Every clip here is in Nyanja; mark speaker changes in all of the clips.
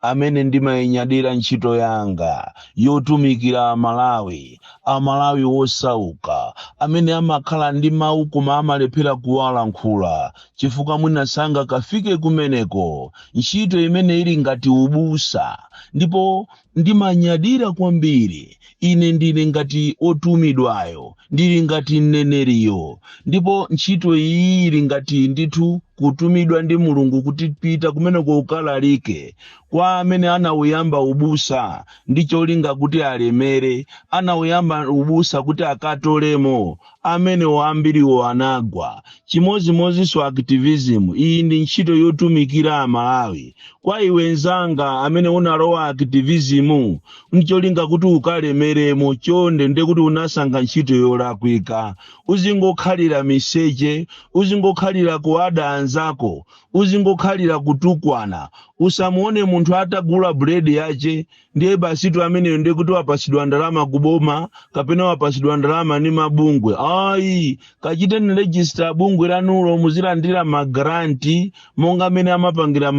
Speaker 1: amene ndimayinyadira ntchito yanga yotumikira Amalawi, Amalawi wosauka amene amakhala ndi mawu koma amalephera kuwalankhula chifukwa mwina sangakafike kumeneko, ntchito imene ili ngati ubusa, ndipo ndimanyadira kwambiri Ine ndiri ngati wotumidwayo, ndiri ngati mneneriyo. Ndipo ntchito iyi ili ngati ndithu kutumidwa ndi Mulungu kuti pita kumeneko ukalalike kwa amene anauyamba ubusa ndi cholinga kuti alemere, anauyamba ubusa kuti akatolemo amenewo ambiriwo anagwa chimozimozinso activism iyi ndi ntchito yotumikira amalawi kwa iwe nzanga amene unalowa activism ncholinga kuti ukalemeremo chonde nde kuti unasankha ntchito yolakwika uzingokhalira miseche uzingokhalira kuada anzako uzingokhalira kutukwana usamuone munthu atagula bread yache ndiye basitu ameneyo ndiye kuti wapasidwa ndalama kuboma kapena wapasidwa ndalama ni mabungwe ayi kachiteni register bungwe lanulo muzilandira magranti monga amene amapangira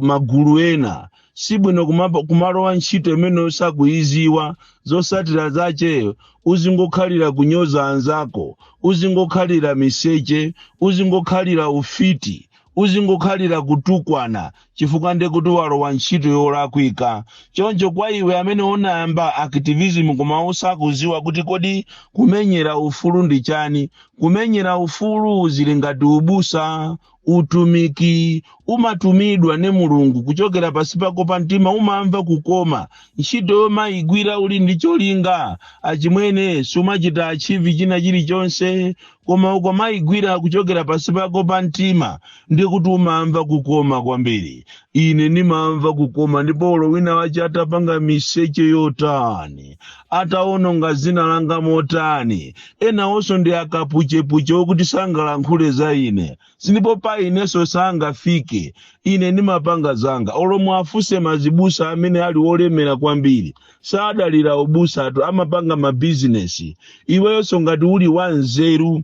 Speaker 1: magulu ena sibwino kumalowa ntchito imene usakuyiziwa zosatira zache uzingokhalira kunyoza anzako uzingokhalira miseche uzingokhalira ufiti uzingokhalira kutukwana chifukwa ndiye kuti walowa ntchito yolakwika choncho kwa iwe amene unayamba activism koma usakuziwa kuti kodi kumenyera ufulu ndi chani kumenyera ufulu zili ngati ubusa utumiki umatumidwa ndi mulungu kuchokera pasi pako pa mtima umamva kukoma ntchito yomayigwira uli ndi cholinga achimwene sumachita achieve china chilichonse koma ukamaigwira kuchokera pasi pako pa mtima ndiye kuti umamva kukoma kwambiri ine ndimamva kukoma ndipo olo wina wache atapanga miseche yotani ataononga zina langa motani enawonso ndi akapuchepuche okuti sangalankhule za ine silipo pa ineso sangafike ine nimapanga zanga olo muwafuse mazibusa amene ali olemera kwambiri sadalira ubusatu amapanga mabizinesi iwenso ngati uli wanzeru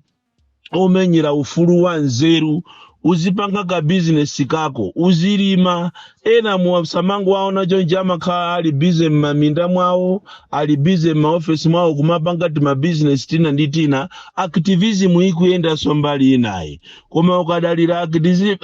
Speaker 1: omenyera ufulu wanzeru uzipanga ka bizinesi kako uzilima ena musamangowaona chonchi amakhala ali busy m'maminda mwawo ali busy m'maofesi mwawo kumapanga timabizinesi tina ndi tina activism ikuyendaso mbali inayi koma ukadalira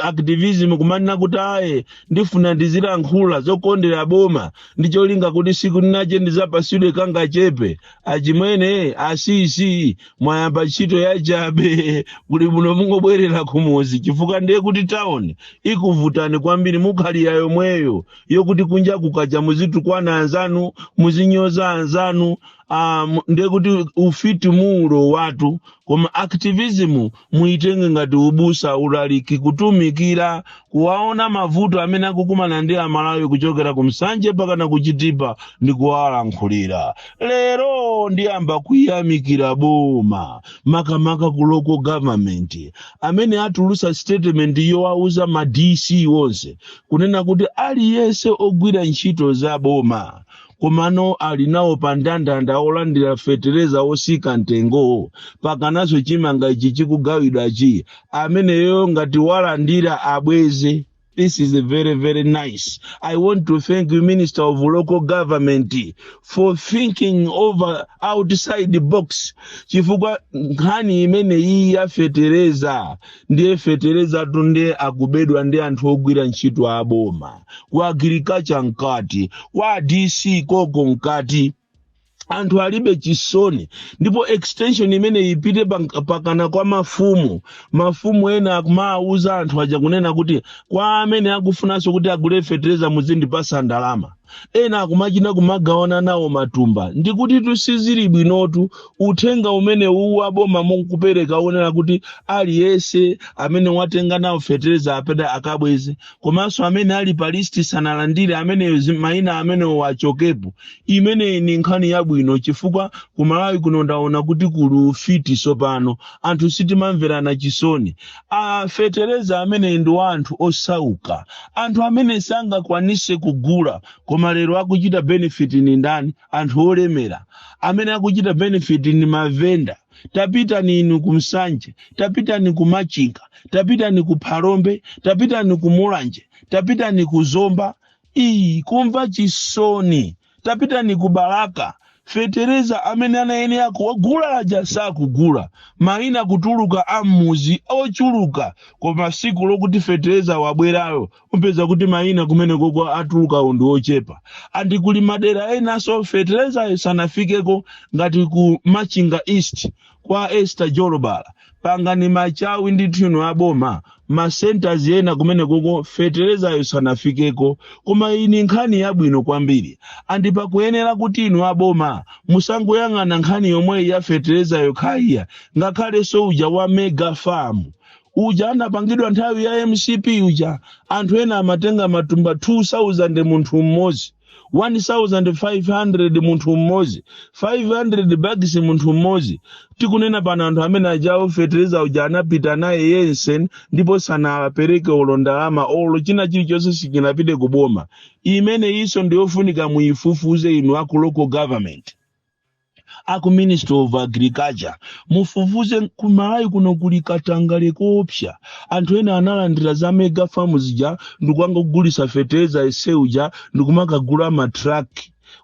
Speaker 1: activism kumanena kuti ayi ndifuna ndizilankhula zokondera boma ndi cholinga kuti siku linache ndizapasidwe kangachepe achimwene asisi mwayamba ntchito yachabe kuli muno mungobwerera kumudzi chifukwa ndiye kuti town ikuvutani kwambiri mukhalire yomweyo yokuti kunja kukacha muzitukwana anzanu muzinyoza anzanu um, ndiye kuti ufiti muulowatu koma activism muitenge ngati ubusa ulaliki kutumikira kuwaona mavuto amene akukumana ndi amalawi kuchokera ku nsanje mpakana ku chitipa ndi kuwalankhulira lero ndiyamba kuyamikira boma makamaka ku local government amene atulusa statement yowauza ma dc onse kunena kuti aliyense ogwira ntchito za boma komano ali nawo pa ndandanda olandira fetereza otsika mtengo wo pangananso chimanga ichi chikugawidwachi ameneyo ngati walandira abweze This is very, very nice. I want to thank you, Minister of Local Government, for thinking over outside the box. Chifukwa nkhani imene iyi yafetereza ndiye feterezatu ndiye akubedwa ndi anthu ogwira ntchito aboma kwa agriculture mkati kwa dc koko mkati anthu alibe chisoni ndipo extension imene ipite pank- pakana kwa mafumu mafumu ena akumawauza anthu aja kunena kuti kwa amene akufunanso kuti agule fetereza muzindipatsa ndalama ena akumachita kumagawana nawo matumba ndikuti tsindikizani bwinotu uthenga umene uwu aboma mukupereka onena kuti aliyense amene watenga nawo fetereza apite akabweze komanso amene ali pa list sanalandire ameneyo zi- maina amenewo achokepo imeneyi ni nkhani yabwino chifukwa kumalawi kuno ndaona kuti kuli ufiti tsopano anthu sitimamverana chisoni a fetereza amene ndi wa anthu osauka anthu amene sangakwanitse kugula koma lero akuchita benefit ni ndani anthu olemera amene akuchita benefit ni mavenda tapitani inu ku nsanje tapitani ku machinga tapitani ku phalombe tapitani ku mulanje tapitani ku zomba iyi kumva chisoni tapitani ku balaka fetereza amene anayenera kugula aja sakugula mayina kutuluka ammudzi ochuluka koma tsiku lokuti fetereza wabwerayo upeza kuti mayina kumene koko atulukawo ndi ochepa andi kuli madera enanso feterezayo sanafikeko ngati ku machinga east kwa Esther Jolobala pangani machawi ndithu inu aboma ma centers ena kumene koko feterezayo sanafikeko koma iyi nkhani yabwino kwambiri andi pakuyenera kuti inu aboma musangoyang'ana nkhani yomweyi ya fetereza yokha iya ngakhalenso uja wa mega farm uja anapangidwa nthawi ya mcp uja anthu ena amatenga matumba 2000 munthu mmodzi 1500 munthu mmodzi 500 bags munthu mmodzi tikunena pano anthu amene a jawo fetereza uja anapita naye yense ndipo sanapereke olo ndalama olo china chilichonse sichinapite ku boma imeneyinso ndiyofunika muyifufuze inu aku local government aku ministry of agriculture mufufuze ku malawi kuno kuli katangale koopsa anthu ena analandira za mega farm zija ndikupanga kugulisa fetereza yense uja ndikumakagula matruck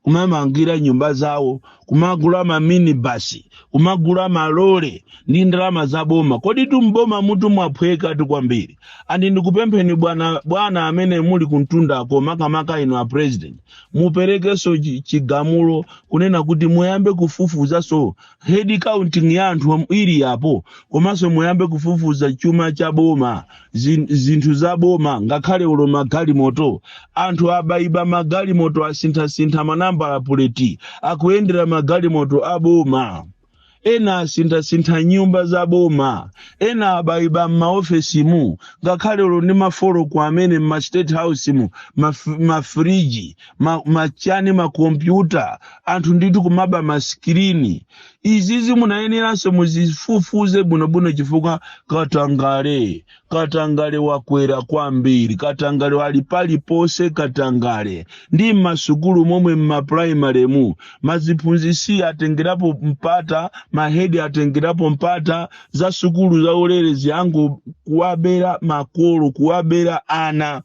Speaker 1: kumamangira nyumba zawo kumagula maminibasi kumagula malole ndi ndalama za boma koditu m'bomamutu mwaphwekatu kwambiri and ndikupempheni bwana bwana amene muli kumtundako makamaka inu a president muperekenso chi- chigamulo kunena kuti muyambe kufufuzanso head counting ya anthu am- ili yapo komanso muyambe kufufuza chuma cha boma zin- zinthu za boma ngakhale olo magalimoto anthu abayiba magalimoto asinthasintha manambala puleti akuyendera magalimoto a boma ena asinthasintha nyumba za boma ena abayiba m'maofesimu ngakhale olo ndi mafoloko amene m'ma state house mu maf- mafriji ma- machiyani makompyuta anthu ndithu kumaba maskirini izizi munayeneranso muzifufuze bwinobwino chifukwa katangale Katangale wakwera kwambiri, katangale ali paliponse, katangale ndi m'masukulu momwe m'mapulayimalemu, maziphunzisi atengerapo mpata, mahedi atengerapo mpata, za sukulu zaulere zija ngo kuwabera makolo, kuwabera ana.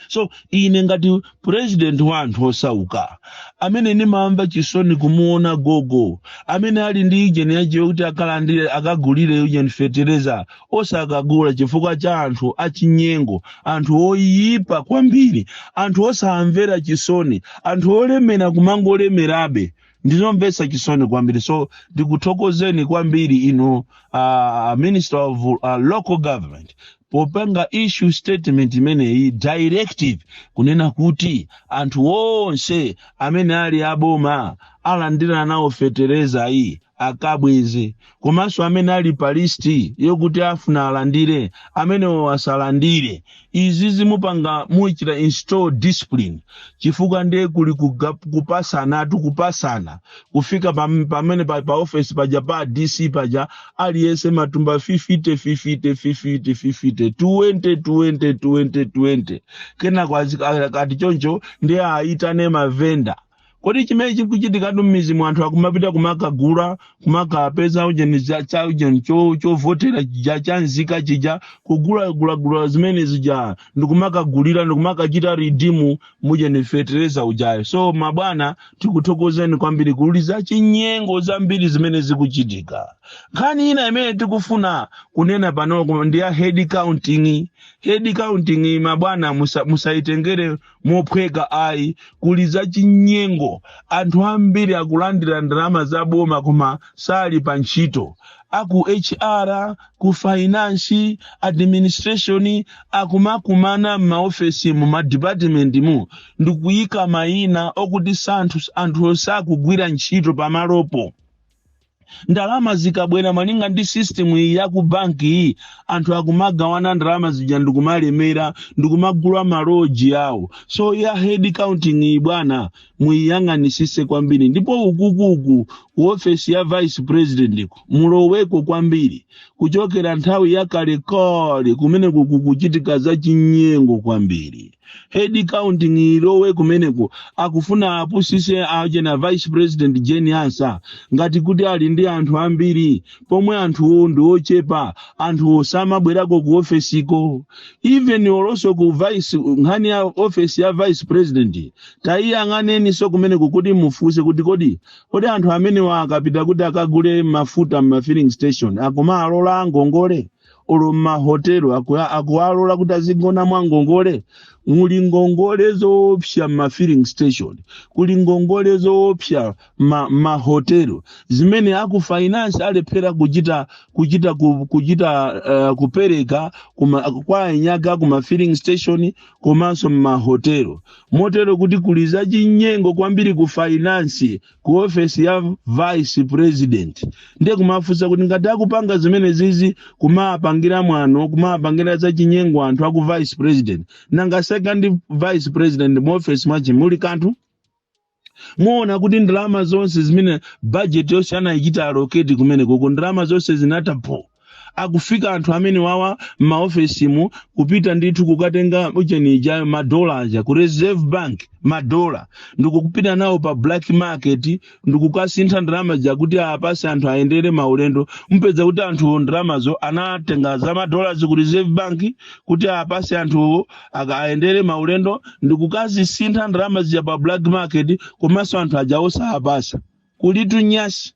Speaker 1: so ine ngati president wa anthu osauka amene ndimamva chisoni kumuona gogo amene ali ndi ujeni yake yokuti akalandire akagulire ujeni fetereza osakagula chifukwa cha anthu achinyengo anthu oyipa kwambiri anthu osamvera chisoni anthu olemera kumangolemerabe ndizomvetsa chisoni kwambiri so ndikuthokozeni kwambiri inu uh, minister of uh, local government popanga issue statement imeneyi directive kunena kuti anthu onse amene ali aboma alandira nawo feterezayi akabweze komanso amene ali pa listi yokuti afuna alandire amenewo asalandire izi zimupanga muchita install discipline chifukwa ndiye kuli kuga- kupatsanatu kupatsana kufika pam- pamene pa, pa office paja pa dc paja aliyense matumba 50 50 50 50 20 20 20 20 kenako azi- a- kati choncho ndi aitane mavenda kodi chimene chikuchitikatu mmidzi mwa anthu akumapita kumakagula kumakapeza ujeni za- cha ujeni cho- chovotera chija cha nzika chija kugulagulagula zimene zija ndikumakagulira ndikumakachita redeem ujeni fetereza ujayo so mabwana tikuthokozeni kwambiri kuli za chinyengo zambiri zimene zikuchitika nkhani ina imene tikufuna kunena pano ndi ya head counting head counting mabwana musa- musayitengere mophweka ayi kuli za chinyengo anthu ambiri akulandira ndalama za boma koma sali pa ntchito aku hr ku finance, administration, akumakumana m'maofesimu, m'madipatimentimu, ndi kuyika mayina okuti anthu, anthuwo sakugwira ntchito pamalopo. Ndalama zikabwera malinga ndi system iyi ya ku banki iyi, anthu akumagawana ndalama zija ndi kumalemera, ndi kumagula maloji awo. So ya head counting iyi bwana, muiyang'anisise kwambiri ndipo ukukuku ku ofesi ya vice president mulowemo kwambiri kuchokera nthawi ya kalekale kumeneko kukuchitika za chinyengo kwambiri head counting ilowe kumeneko akufuna apusise ajeni a vice president jane ansah ngati kuti ali ndi anthu ambiri pomwe anthuwo ndi ochepa anthuwo samabwerako ku ofesiko even konkonso ku vice nkhani ya ofesi ya vice president tayiyang'aneninso kumeneko kuti mufunse kuti kodi kodi anthu amenewa akapita kuti akagule mafuta m'ma filling station akumalola ngongole olo m'mahotelo aku- akuwalola kuti azigona mwa ngongole muli ngongole zoopsa m'ma filling station kuli ngongole zoopsa m'ma hotel zimene aku finance alephera kuchita kuchita ku- kuchita uh, kupereka kuma, kwa eniake kuma filling station komanso ma hotel motero kuti kuli za chinyengo kwambiri ku finance ku office ya vice president ndiye kumafunsa kuti ngati akupanga zimenezizi kumapangira mwano kumapangira za chinyengo anthu aku vice president nanga second vice president mu office mwachi muli kanthu muona kuti ndalama zonse zimene budget yonse anayichita allocate kumenekoko ndalama zonse zinatha phu akufika anthu amenewawa m'maofesimu kupita ndithu kukatenga ujeniyo madola aja ku reserve bank madola ndikukupita nawo pa black market ndikukasintha ndalama zija kuti apase anthu ayendere maulendo mupeza kuti anthuwo ndalamazo anatenga za madola ku reserve bank kuti apase anthuwo akayendere maulendo ndi kukazisintha ndalama zija pa black market komanso anthu aja osawapatsa kulitu nyasi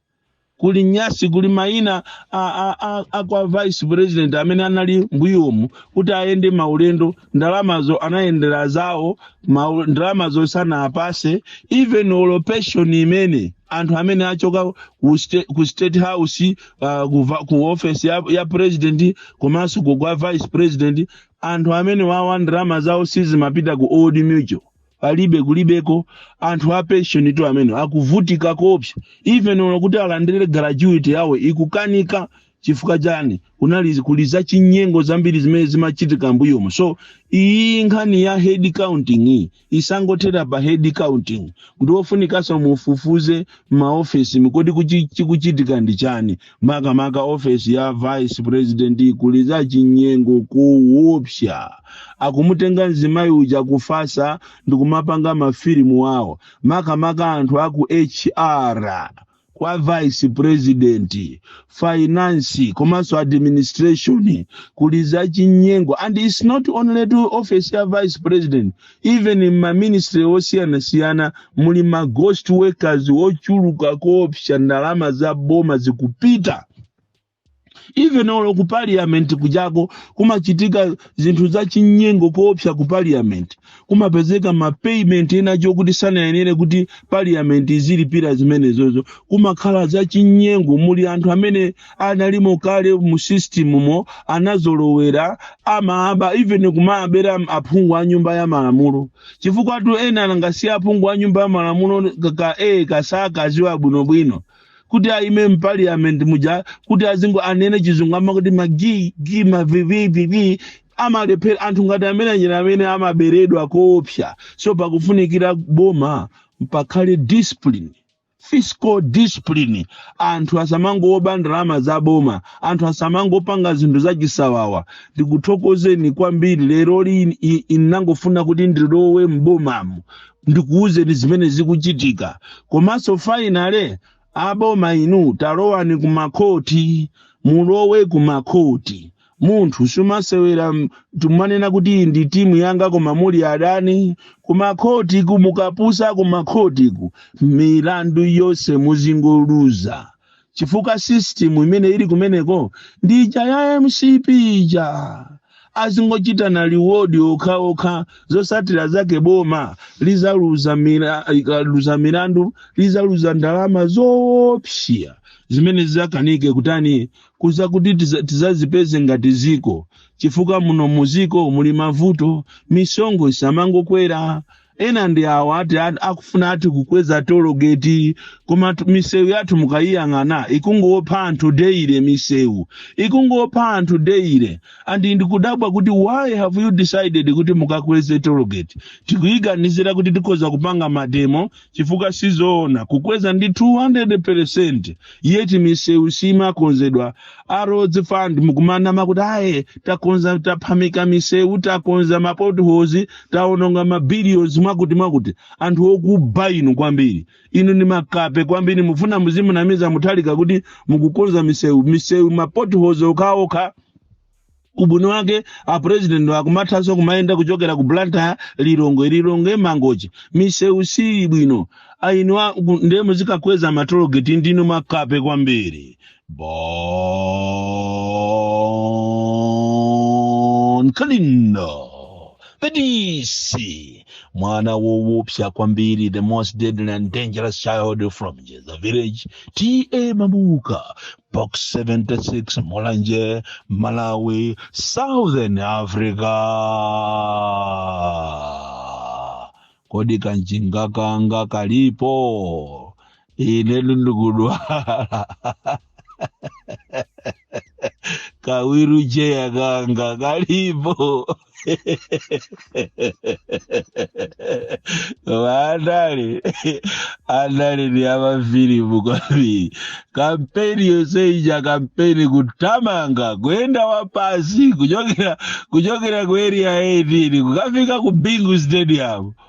Speaker 1: kuli nyasi kuli maina a, a, a, a kwa vice president amene anali mbuyomu kuti ayende maulendo ndalamazo anayendera zawo mau- ndalamazo sanawapatse even olo pension imene anthu amene achoka ku state, ku state house uh, ku, va- ku office ya, ya president komanso ku kwa vice president anthu amene wawa ndalama zawo sizimapita ku old mutual palibe kulibeko anthu a pension tu amene akuvutika koopsa even olo kuti alandire gratuity yawo ikukanika chifukwa chani kunali kuli za chinyengo zambiri zimene zimachitika mbuyomo so iyi nkhani ya head counting iyi isangothera pa head counting kukufunikanso mufufuze m'maofesimu kodi kuchi- chikuchitika ndi chani makamaka ofesi ya vice president kuli za chinyengo kuwopsa akumutenga mzimayi uja akufatsa ndikumapanga mafilimu wawo makamaka anthu aku hr kwa vice president finance komanso administration kuli za chinyengo and it's not only tu office ya vice president even in ma ministry osiyanasiyana muli ma ghost workers ochuluka koopsa ndalama za boma zikupita even olo ku parliament kujako kumachitika zinthu za chinyengo koopsa ku parliament kumapezeka ma payment ena oti sanayenere kuti parliament izilipira zimenezozo kumakhala za chinyengo muli anthu amene analimo kale mu system mo anazolowera amaaba even kumaabera aphungu a nyumba ya malamulo chifukwatu enanu ngati a aphungu a nyumba ya malamulo ka a osakaziwa bwinobwino kuti aime mpaliyament muja kuti azingo anene chizungu amakuti magi gi mavivivivi amalephera anthu ngati amene aja amene amaberedwa koopsa so pakufunikira boma pakhale discipline fiscal discipline anthu asamangoba ndalama za boma anthu asamangopanga zinthu zachisawawa ndikuthokozeni kwambiri lero lino i- inangofuna kuti ndilowe m'bomamu ndikuwuzeni zimene zikuchitika komanso finally aboma inu talowani kumakhoti mulowe kumakhoti munthu sumasewera m- timanena kuti iyi ndi timu yanga koma muli adani kumakhotiku mukapusa kumakhotiku milandu yonse muzingoluza chifukwa system imene ili kumeneko ndi ija ya mcp ija azingochitana reward okhaokha zosatira zake boma lizaluza mira- ikaluza milandu lizaluza ndalama zoopsya zimene zizakanike kutani kuza kuti tiza- tizazipeze ngati ziko chifukwa muno muziko muli mavuto misonkho izamangokwera ena ndi awo ati ati akufuna ati kukweza tologeti koma tu- misewu yathu mukayiyang'ana ikungopha anthu daily misewu ikungopha anthu daily and ndikudabwa kuti why have you decided kuti mukakweze tologeti tikuyiganizira kuti tikhoza kupanga mademo chifukwa sizoona kukweza ndi 200 percent yeti misewu simakonzedwa a roads fund mukumanama kuti aye takonza taphamika misewu takonza mapotholes taononga mabilions mwakuti mwakuti anthu okuba inu kwambiri inu ndi makape kwambiri mufuna muzimunamiza Mutharika kuti mukukonza misewu misewu mapotholes okhaokha ubwino wake apresident akumathanso kumayenda kuchokera ku blantyre lilongwe lilongwe mangochi misewu sili bwino a inu ndiye muzikakweza matologeti ndinu makape kwambiri bon kalindo the DC mwana wowopsa kwambiri the most deadly and dangerous child from the village ta mabuka box 76 mulanje malawi southern africa kodi kanjinga kanga kalipo ine ndikudwala ka wheelchair kanga kalipo koma andale andale ndi amafilimu kwambiri kampeni yonse ija kampeni kutamanga kuyenda wapansi kuchokera kuchokera ku area 18 kukafika ku bingu stadium